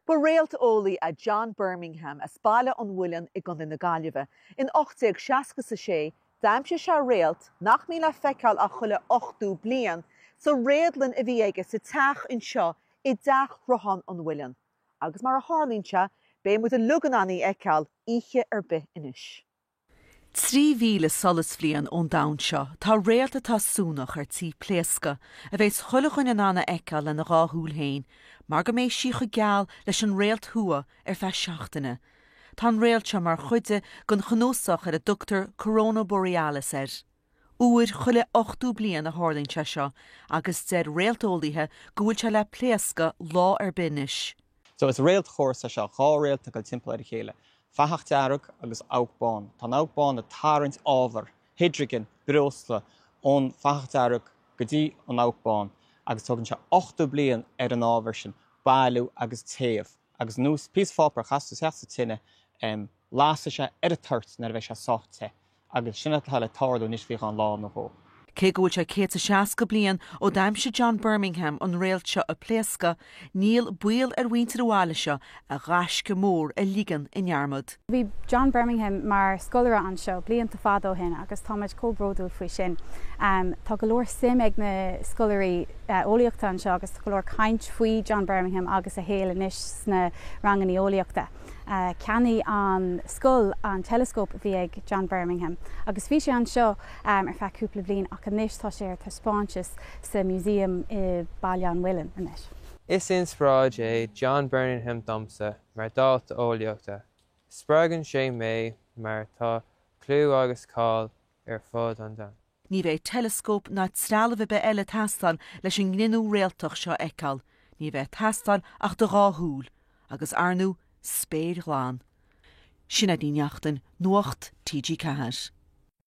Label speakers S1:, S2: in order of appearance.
S1: Ba réalteolaí é John Birmingham as Baile an Mhuilinn i gContae na Gaillimhe. In 1866, d'aimsigh sé réalt, nach mbíonn le feiceáil ach chuile ochtó bliain, sa réadlann a bhí aige sa teach anseo i dTeach Shruthán an Mhuilinn. Agus mar a tharlaíonn sé, beidh muid uilig in ann í a fheiceáil oíche ar bith anois. Trí
S2: mhíle solasbhliain ón domhan seo, tá réalt atá suanach ar tí pléascadh, a bheas chuile dhuine in ann a fheiceáil lena dhá shúil féin, mar go mbeidh sí chomh geal leis an Réalt Thuaidh ar feadh seachtaine. Tá an réalt seo mar chuid den chnuasach ar a dtugtar Corona Borealis air. Uair chuile ochtó bliain a tharlaíonn sé seo agus deir réalteolaíthe go bhfuil sé le pléascadh lá ar bith anois. So, is réaltchóras
S3: é seo, dhá réalt ag dul timpeall ar a chéile, fathach dearg agus abhac bán. Tá an abhac bán ag tarraingt ábhar, hidrigin, breosla, ón bhfathach dearg go dtí an abhac bán agus tógann sé ochtó bliain ar an ábhar sin bailiú agus téamh agus ar nós píosa páipéir, castar isteach sa tine, em, lasfaidh sé ar an toirt nuair a bheidh sé sách te. Agus sin atá le tarlú anois faoi cheann lá nó dhó. Cé go bhfuil sé
S2: céad 's a seasca bliain ó d'aimsigh John Birmingham an réalt seo ag pléascadh, níl baol ar mhuintir an bhaile seo a ghaisce mór a ligean i ndearmad. Bhí John
S4: Birmingham mar scoláire anseo blianta fada ó shin agus táimid chomh bródúil faoi sin. Tá go leor suim ag na scoláirí eolaíochta anseo agus tá go leor caint faoi John Birmingham agus a shaol anois sna ranganna eolaíochta. ceannaigh an scoil an teileascóp a bhí ag John Birmingham agus bhí sé anseo ar feadh cúpla bliain ach anois tá sé ar taispeántas sa músaem i Baile an Mhuilinn anois. Is
S5: inspioráid é John Birmingham domsa mar dalta eolaíochta, spreagann sé mé mar tá clú agus cáil ar fud an domhain. Ní bheidh
S2: teileascóp ná trealamh ar bith eile ag teastáil leis an gcruinniú réaltach seo a fheiceáil, ní bheidh ag teastáil ach do dhá shúil, agus ar ndóigh, spéir ghlan. Sinéad Ní Neachtain, Nuacht TG4.